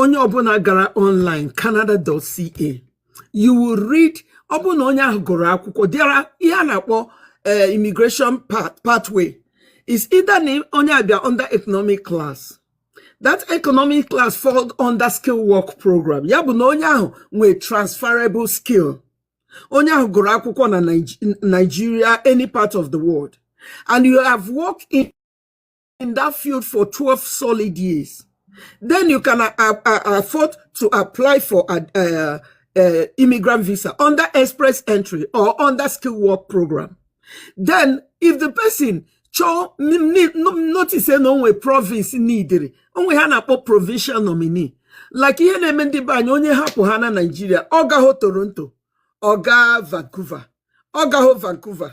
onye ọbụla gara online canada.ca you will read ọ bụrụ na onye ahụ gụrụ akwụkwọ there are ihe a na-akpọ eh, immigration pathway is either na onye abịa under economic class that economic class fall under skill work program ya bụ na onye ahụ nwee transferable skill onye ahụ gụrụ akwụkwọ na Nigeria any part of the world and you have worked in that field for 12 solid years. Then you can uh, uh, uh, afford to apply for a, uh, uh, immigrant visa under express entry or under skilled work program. Then, if the person chọọ notice na o nwe province needịrị o nwe ihe a na-akpọ provincial nominee like ihe na-eme ndị be anyị onye hapụ ha na Naịjirịa ọ gahọ Toronto ọ gaa Vancouver ọ gahọ Vancouver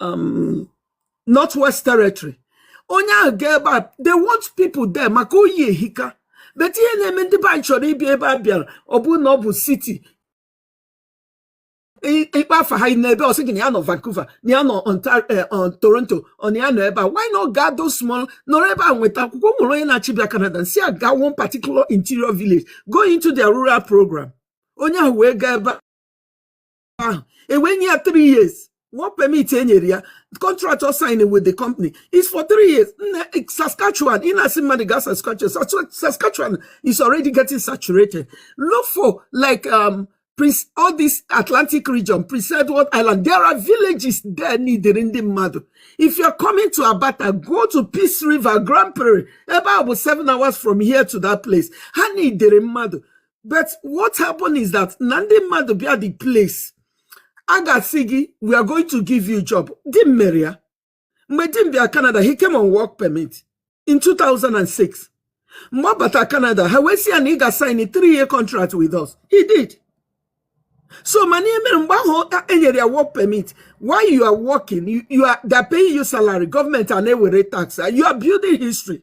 um, northwest territory onye ahụ gaa ebe a they want people there maka oyi ehika but ihe na-eme ndị be anyị chọrọ ịbịa ebe a bịara ọ bụrụ na ọ bụ city ị kpọọ afa ha ị nọ ebee ọ sị gị na ya nọ Vancouver na ya nọ eh, Toronto ọ na ya nọ ebe a why not gaa those small nọrọ ebe a nweta akwụkwọ nwere onye na-achọ ịbịa Canada nsị ya gaa one particular interior village go into their rural program onye ahụ wee gaa ebe a ahụ ewee nye ya 3 years work permit e nyere ya contract ọ sign with the company is for 3 years nna saskatchewan ị na-asị mmadụ gaa saskatchewan Sask- saskatchewan is already getting saturated look for like um, Prince, all this Atlantic region, Prince Edward Island, there are villages there needed in the madu. If you're coming to Abata, go to Peace River, Grand Prairie, about seven hours from here to that place. Ha needed in madu. but what happened is that na ndị mmadụ bịa the place a ga-asị gị we are going to give you job di m mere ya mgbe di m bịa Canada he came on work permit in 2006 mgbe ọ bata Canada ha wee sị ya na ị ga-sign three year contract with us he did so mana ihe mere mgbe ahụ e nyere ya work permit while you are working you, you are they're paying you salary government a na-ewere tax you are building history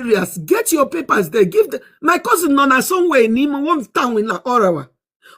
areas get your papers there give my cousin nọ na somewhere n'ime one town na Ottawa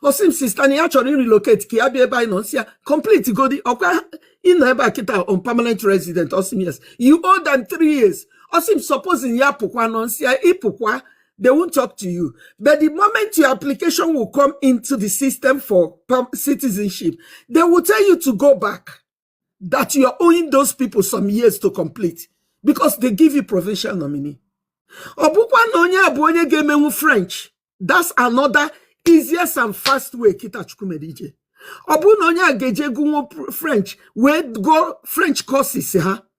ọ sị m sister na ya chọrọ relocate ka ya bịa ebe anyị nọ nsị ya complete godi ọ kwa ị nọ ebe a kịta on permanent resident ọ sị m yes you owe them three years ọ sị m supposing ya pụkwanụ nsị ya ị pụkwa they won't talk to you but the moment your application will come into the system for citizenship they will tell you to go back that you are owing those people some years to complete because they give you provincial nominee ọ bụkwa na onye a bụ onye ga-emenwu french that's another easiest and fast way kịta Chukwu mere ije ọ bụrụ na onye a ga-eje gụnwu french wee gụọ french courses ha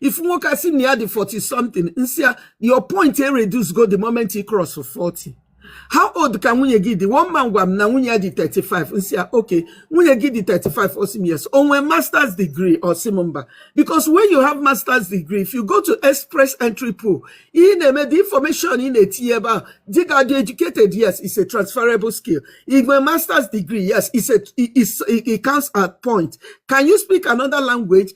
if nwoke asị na ya dị 40 something nsị ya your point e reduce go the moment ị cross 40 how old ka nwunye gị dị one man gwa m na nwunye ya dị 35 nsị ya okay nwunye gị dị 35 ọ sị m yes o nwee masters degree ọ sị m mba because when you have masters degree if you go to express entry pool ị na-eme the information ị na-etinye ebe ahụ dị ka dị educated yes is a transferable skill ị nwee masters degree yes is a is, it counts at point can you speak another language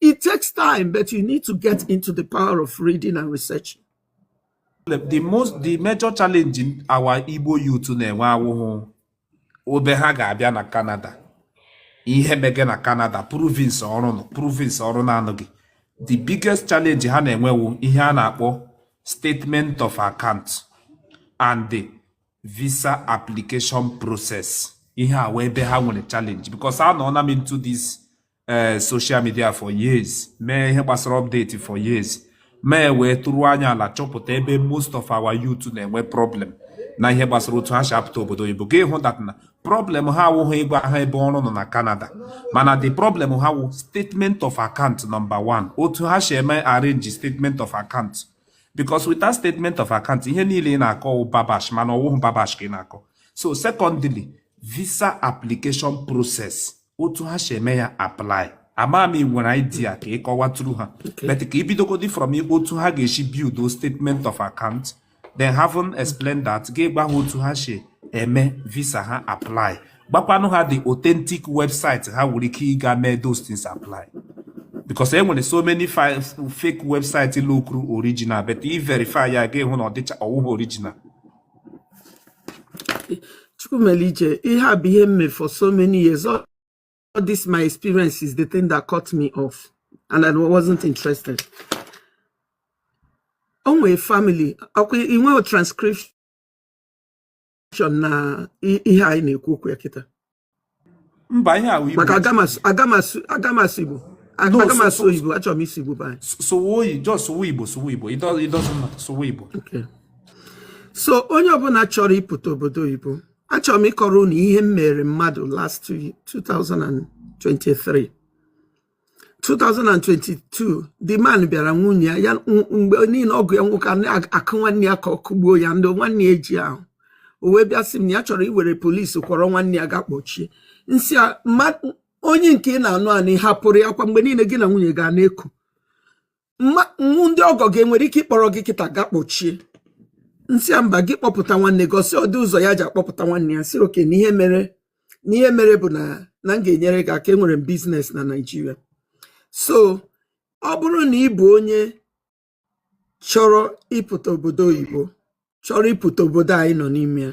It takes time, but you need to get into the power of reading and researching. The most the major challenge in our Igbo youth na-enwe awụhụ ebe ha ga-abịa na Canada ihe mege na Canada province ọrụ nọ province ọrụ na-anọghị the biggest challenge ha na-enwe wụ ihe a na-akpọ statement of account and the visa application process ihe a wụ ebe ha nwere challenge because anọọna m into this eh, social media for years mee ihe gbasara update for years mee weturu anya ala chọpụta ebe most of our youth na-enwe problem na ihe gbasara otu ha si apụta obodo oyibo gị ahụ that na problem ha awụghị ịgwa ha ebe ọrụ nọ na Canada mana the problem ha wụ statement of account number one otu ha si eme arrange statement of account because without statement of account ihe niile ị na-akọ babash mana ọ wụghị babash ka ị na-akọ so secondly visa application process otu ha si eme ya apply ama m i nwere idea ka ị kọwatụrụ ha but ka i bidogodi from otu ha ga-esi build o statement of account then having explained that gị agwa ha otu ha si eme visa ha apply gwakwanụ ha the authentic website ha nwere ike ịga mee those things apply because e nwere so many fi- fake website lookuru original but ị verify ya gị ahụ na ọ dịcha ọ wụghị original Chukwumelije, ihe a bụ ihe m mee for so many years. All, all this my experience is the thing that cut me off and I wasn't interested. O nwere family, ọ kwa i nwere transcription na i- ihe anyị na-ekwu okwu ya kịta. mba ihe a wụ igbo maka aga m asụ igbo aga m asụ oyibo achọrọ m ịsụ igbo be anyị sụwe oyi- just sụwe igbo sụwe igbo it doesn't matter sụwe igbo so onye ọbụla chọrọ ịpụta obodo oyibo achọrọ m ịkọrọ unu ihe m mere mmadụ last 2023 2022 the man bịara nwunye ya ya mgbe niile ọgụ ya nwoke a na-akụ nwanne ya ka ọ kụgbuo ya ndị nwanne ya eji ahụ o wee bịa sị m na ya chọrọ iwere polisi kpọrọ nwanne ya ga kpọchie m sị ya mba onye nke ị na-anụ anụ ị hapụrụ ya kwa mgbe niile gị na nwunye gị na-eku nwu ndị ọgọ gị enwere ike ịkpọrọ gị kịta ga kpọchie m sị ya mba gị kpọpụta nwanne gị ọ sị ọ dị ụzọ ya ji akpọpụta nwanne ya sị okay na ihe mere na ihe mere bụ na na m ga-enyere gị aka enwere m business na naijiria so ọ bụrụ na ị bụ onye chọrọ ịpụta obodo oyibo chọrọ ịpụta obodo anyị nọ n'ime ya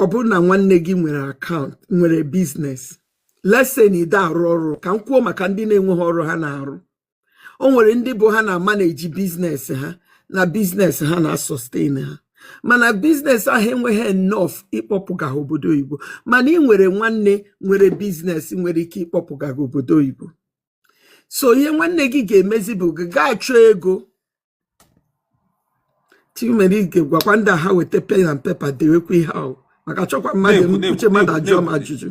ọ bụrụ na nwanne gị nwere akaụntụ nwere biznes let's say na ide arụ ọrụ ka m kwuo maka ndị na-enweghị ọrụ ha na-arụ o nwere ndị bụ ha na-amaneji biznes ha na biznes ha na-asọsten ha mana biznes ahụ enweghị enough ịkpọpụga ha obodo oyibo mana ị nwere nwanne nwere biznes nwere ike ịkpọpụga gị obodo oyibo so ihe nwanne gị ga-emezi bụ gị gaa chọọ ego nwere ike gwakwa ndị a ha weta pen and paper dewekwa ihe ahụ maka chọkwa mmadụ uche mmadụ ajụọ m ajụjụ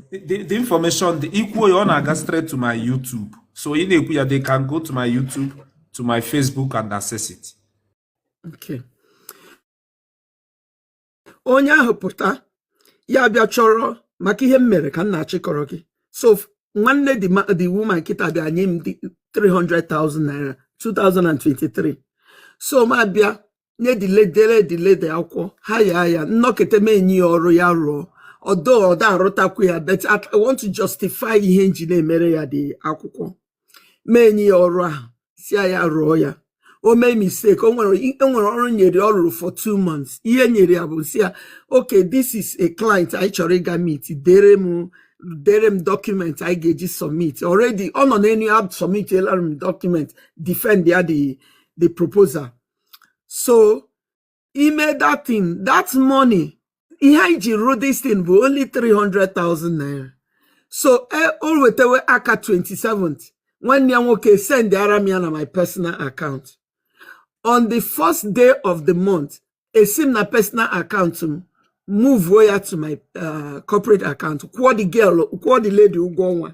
the information dị i kwuo ya ọ na-aga straight to my YouTube so ị na-ekwu ya they can go to my YouTube to my Facebook and access it okay onye ahụ pụta ya bịa chọrọ maka ihe m mere ka m na-achọ ịkọrọ gị so nwanne the woman kịta bịa nye m 300,000 naira 2023 so m abịa nye the lady e the lady akwụkwọ hire ya nọkata m enye ya ọrụ ya rụọ although ọda arụtakwu ya but I want to justify ihe m ji na-emere ya the akwụkwọ m enye ya ọrụ ahụ sị ya rụọ ya o mee mistake o nwere e ọrụ m nyere ọ rụrụ for two months ihe m nyere ya bụ sị ya okay this is a client anyị chọrọ ịga meet dere m dere m document anyị ga-eji submit already ọ nọ n'elu ya submit elara m document defend ya the the proposal so ime that thing that money ihe anyị ji rụọ this thing bụ only 300,000 naira so e, o wetewe aka 27th nwanne ya nwoke send ara m ya na my personal account on the first day of the month esi m na personal account m move ya to my uh, corporate account kwụọ the girl kwụọ the lady ụgwọ ọnwa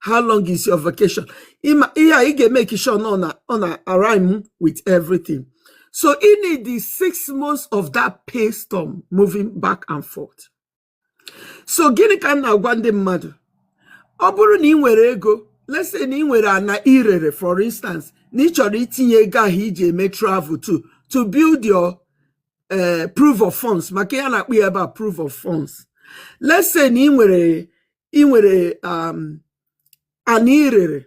how long is your vacation ịma ihe a ị ga-emake sure na ọ na ọ na-arhyme with everything so ị need the six months of that pay stub moving back and forth so gịnị ka m na-agwa ndị mmadụ ọ bụrụ na ị nwere ego let's say na ị nwere ana i rere for instance na ị chọrọ itinye ego ahụ iji eme travel to to build your eh, proof of funds maka ihe a na-akpọ ya ebe a proof of funds let's say na ị nwere ị nwere um, ana i rere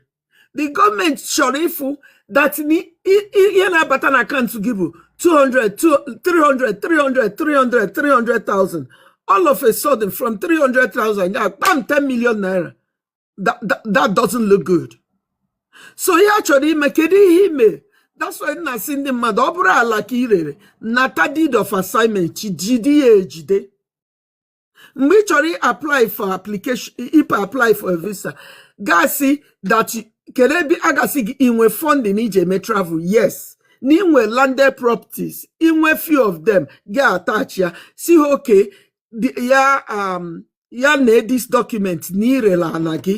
the gọọmenti chọrọ ịfụ that ihe na-abata na akaụntụ gị bụ 200 300 300 300 300,000 all of a sudden from 300,000 ya kpam 10 million naira that, that, that doesn't look good so ihe ha chọrọ ịma kedu ihe i me that's why m na-asị ndị mmadụ ọ bụrụ ala ka i rere nata deed of assignment jide ya ejide mgbe ị chọrọ apply for application ipe apply for a visa ga-asị that kedu ebe a ga-asị gị inwe funding iji eme travel yes na i nwe landed properties i nwe few of them gị attach ya sị ha okay ya um, ya na this document na i rela ana gị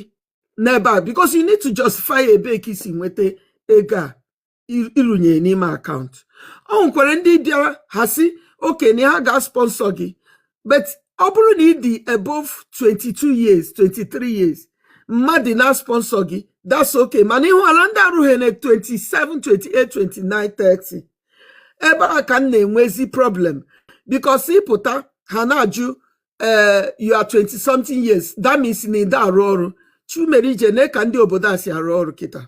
n'ebe a because you need to justify ebe ka i si nweta ego a i- i runyere n'ime akaụntụ ọ nwekwara ndị bịara ha sị okay na ha ga-sponsor gị but ọ bụrụ na ị dị above 22 years 23 years mmadụ na-sponsor gị that's okay mana ị hụla ndị arụghị na 27 28 29 30 ebe a ka m na-enwezi problem because ị pụta ha na-ajụ eh, you are 20 something years that means na ị da-arụ ọrụ Chukwumerije nee ka ndị obodo a si arụ ọrụ kịta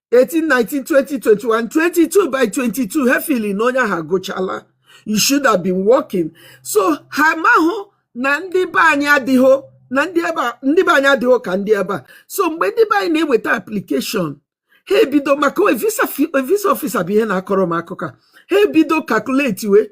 18 19 20 21 22 by 22 ha feel na onye ahụ agụchala you should have been working so ha amahụ na ndị be anyị adịghị na ndị ebe a- ndị be anyị adịghị ka ndị ebe a so mgbe ndị be anyị na-eweta application ha ebido maka visa fi- visa officer bụ ihe na-akọrọ m akụkọ a. ha ebido calculatewe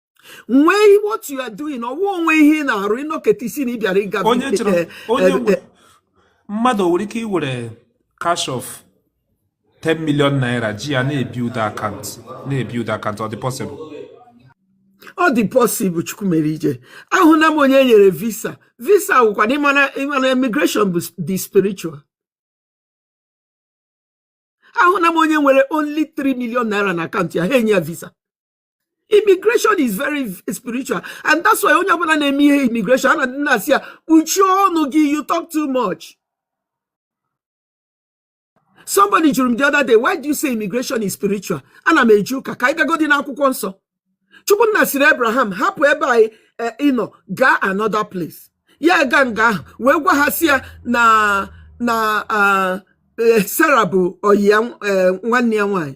nwee ihe what you are doing ọ wụ o nwe ihe ị na-arụ ị nọketa ị sị na ị bịara ịga onye eh, chọrọ eh, onye eh, nwe eh, mmadụ nwere ike iwere cash of 10 million naira ji ya na-ebuild akaụntụ na-ebuild akaụntụ ọ dị possible ọ dị possible Chukwumerije ahụna m onye e nyere visa visa wụkwanụ ị ma na ị ma na immigration bụ s- dị spiritual ahụna m onye nwere only 3 million naira na akaụntụ ya ha enye ya visa immigration is very spiritual and that's why onye ọbụla na-eme ihe immigration a na-adị na-asị ya kpuchie ọnụ gị you talk too much somebody jụrụ m the other day why do you say immigration is spiritual ana m eji ụka ka anyị gagodi n'akwụkwọ nsọ chukwu nna sịrị abraham hapụ ebe anyị eh, ị nọ gaa another place ya gaa nga ahụ wee gwa ha sị ya na na ah, eh, sara bụ oyi ya eh, nwanne ya nwanyị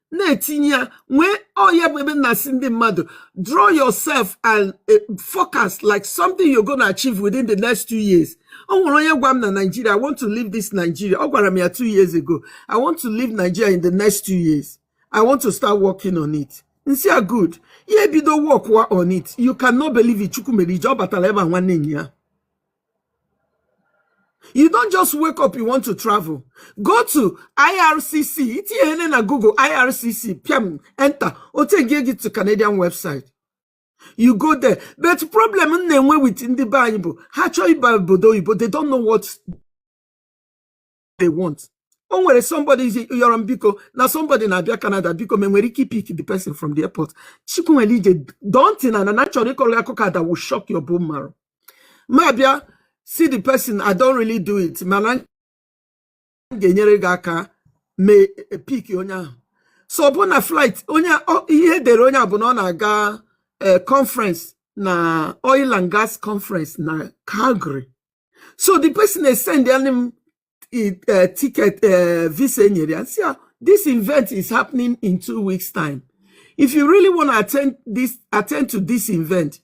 na-etinye ya nwee ọ ya bụ ebe na-asị ndị mmadụ draw yourself and eh, focus like something you're gonna achieve within the next two years o nwere onye gwa m na Nigeria I want to leave this Nigeria ọ gwara m ya two years ago I want to leave Nigeria in the next two years I want to start working on it m sị ya good ya ebido work on it you cannot believe it Chukwumerije ọ batala ebe a nwanne ya you don't just wake up you want to travel go to ircc i tinye na google ircc piam enter ọ take gị to canadian website you go there but problem m na-enwe with ndị be anyị bụ ha chọọ ịba obodo oyibo they don't know what they want o nwere somebody yọrọ m biko na somebody na-abịa Canada biko ma m nwere ike pick the person from the airport Chukwumerije dontin na na chọrọ ịkọrọ akụkọ that will shock your bone marrow m abịa sị the person I don't really do it mana m ga-enyere gị aka m e, pick onye ahụ so ọ bụ na flight onye a ihe e dere onye a bụ na ọ na-aga e, conference na oil and gas conference na Calgary so the person esendere m uh, ticket uh, visa e nyere ya and sị this event is happening in two weeks time if you really want to attend this attend to this event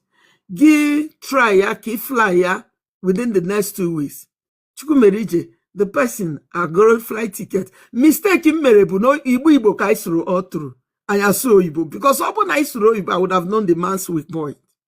gị try ya ka ị fly ya within the next two weeks Chukwumerije the person egoro flight ticket mistake m mere bụ na Igbo Igbo ka anyị sụrụ all through anyị asụhọ oyibo because ọ bụrụ na anyị sụrụ oyibo I would have known the man's weak point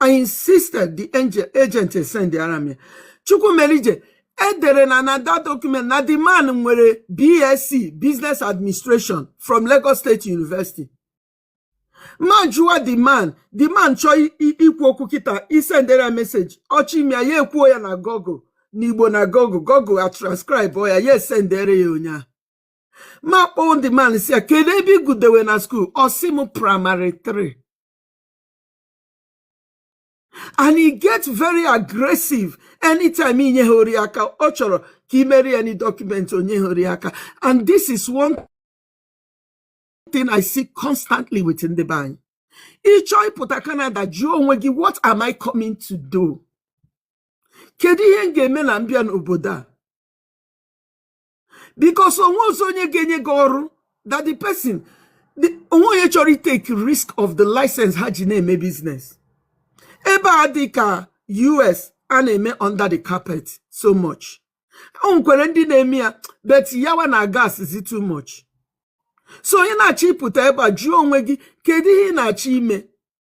I insisted the agent esendara m ya. Chukwumerije e dere na na that document na the man nwere BSc Business Administration from Lagos State University. M ajụwa the man, the man chọọ i- i- ikwu okwu kịta i sendere ya message ọ chọọ ime ya ya ekwuo ya na Google n'Igbo na Google Google atranscribe ya ya esendere ya onye ahụ. M akpọọ the man sị ya kedu ebe ị gụdewe na school ọ sị m primary 3. and he get very aggressive anytime i nyehọrọ ya aka ọ chọrọ ka i meere ya any document o nyehọrọ ya aka and this is one thing I see constantly with ndị be anyị ị chọọ ịpụta Canada jụọ onwe gị what am I coming to do kedu ihe m ga-eme na m bịa n'obodo a because o nwehọzị onye ga-enye gị ọrụ that the person o nwehọ onye chọrọ ịtake risk of the license ha ji na-eme business ebe a adịhọ ka US a na-eme under the carpet so much o nwekwere ndị na-eme ya but yawa na-agas zi too much so ị na-achọ ịpụta ebe a jụọ onwe gị kedu ihe ị na-achọ ime